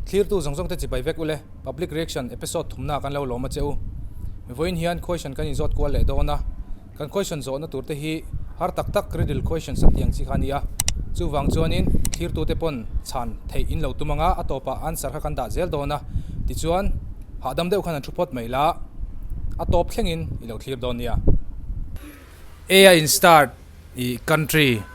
Thlirtu zawng zawngte chibai vek ule, public reaction episode thumnaah kan lo lawm a che u. Vawiin hian khawisan kan inzawt kual leh dawn a. Kan question zawhna tur te hi har tak tak riddle questions a tiang chi kha a ni a, chuvang chuanin thlirtu te pawn chhan theih in lo tum ang a, a tawpah answer kha kan dah zel dawn a, tichuan hahdam deuh khan an thu phawt mai la, a tawp thlengin i lo thlir dawn nia. A-a in start i country.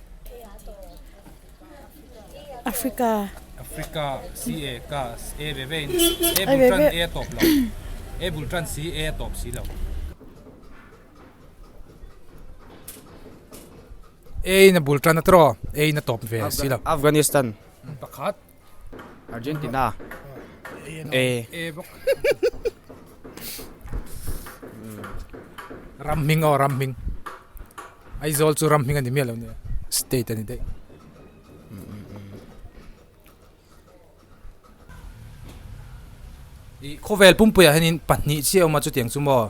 Africa. Africa si e ka e ve ve e bul tran e top lo e bul tran si e top si lo e na bul tran atro e na top ve si lo Afghanistan pakhat Argentina A A bawk ram hming aw ram hming Aizawl chu ram hming a ni miah lo nia state a ni daih i khawvel pumpuiah hianin pahnih chi a awm a chutiang chu maw.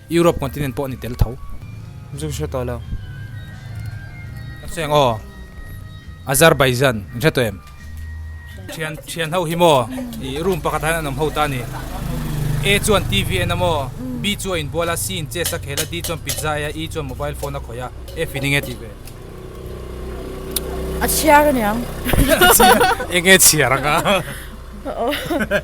Europe continent pawh a ni tel tho. Zu ka hre tawh lo. Ka cheng aw. Azerbaijan. Min hre tawh em? Thian, thian ho hi maw? I room pakhat ahin an awm ho ta a ni. A chuan TV a en a maw? B chu a inbual a, C in chess a khel a, D chuan pizza a ei a, E chuan mobile phone a khawih a. F in eng e tih ve? A chhiar aniang. Eng e chhiar ang a?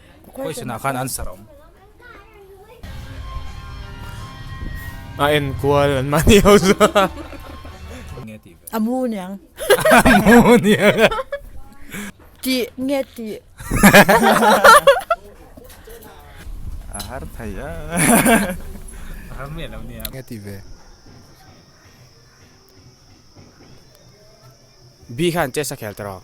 Question ah khan answer a awm. A enkual an mah ni ho zua. Nge tih ve? A mu niang. A mu niang a. Tih nge tih? A har thei a. A har miah lo nia. Nge tih ve? Bi khan chess a khel tawh.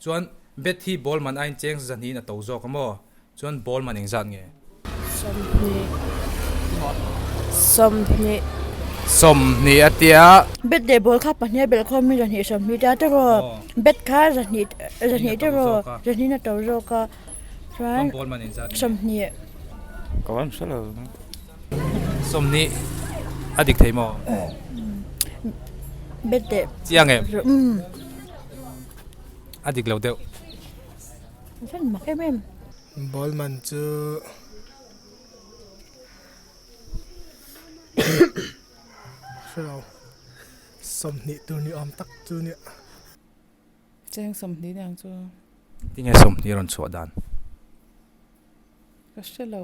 Chuan bet hi ball man ain cheng zaza hnihin a to zawk a maw? Chuan ball man engzat nge? Sawm hnih. Sawm hnih a tia. Bet leh ball kha pahniha belh khawm hi zahnih sawm hnih tia tawh raw. Bet kha zahnih zahnih tawh raw. Zahnihin a to zawk a. Chuan ball man engzat nge? Sawm hnih. Ka uaim hrelo lo nia. Sawm hnih a dik thei maw? Bet leh. Chiang em? Umm. a dik lo deuh. Fel mak em em. Ballman chu hrillo sawmhnih tur ni awm tak chu nia. Cheng sawmhnih nia ang chu. Tinge sawmhnih a rawn chhuah dan? Ka hre lo.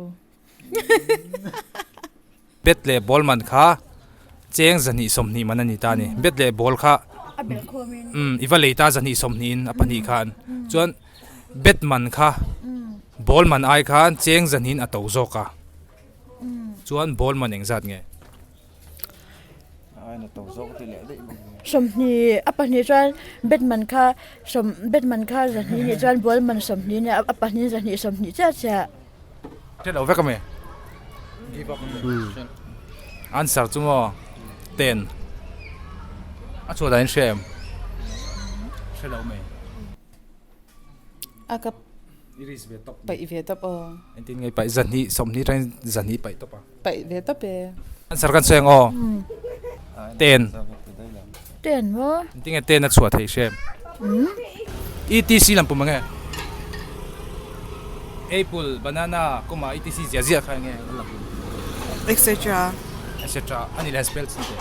Bet leh ball man kha cheng zahnih sawmhnih man a ni ta a ni. Bet leh ball kha umm i va lei ta zahnih sawmhnihin a pahnih kha an chuan bet man kha ball man ai khan cheng zahnihin a to zawk a chuan ball man engzat nge? Sawmhnih a pahnih chuan Batman kha Batman kha zahnih nih chuan Bualman sawmhnih nen a pahnih in zahnih sawmhnih chiah chiah. Hriat lo vek a mi. Give up a mi. Answer chu maw ten a chhuah dan in hria em? Hre lo mai. A ka I ris ve tawp. Paih ve tawp aw. An tin ngei paih zahni sawm ni atain zahni paih tawp a. Paih ve tawp e. Answer kan cheng aw. Ten. Ten maw? An tin nge ten a chhuah thei hrem. Etc lam pum a nge. Apple, banana, comma etc zia zia kha nge an la pum. Etc. Etc a ni leh han spell chhi teh.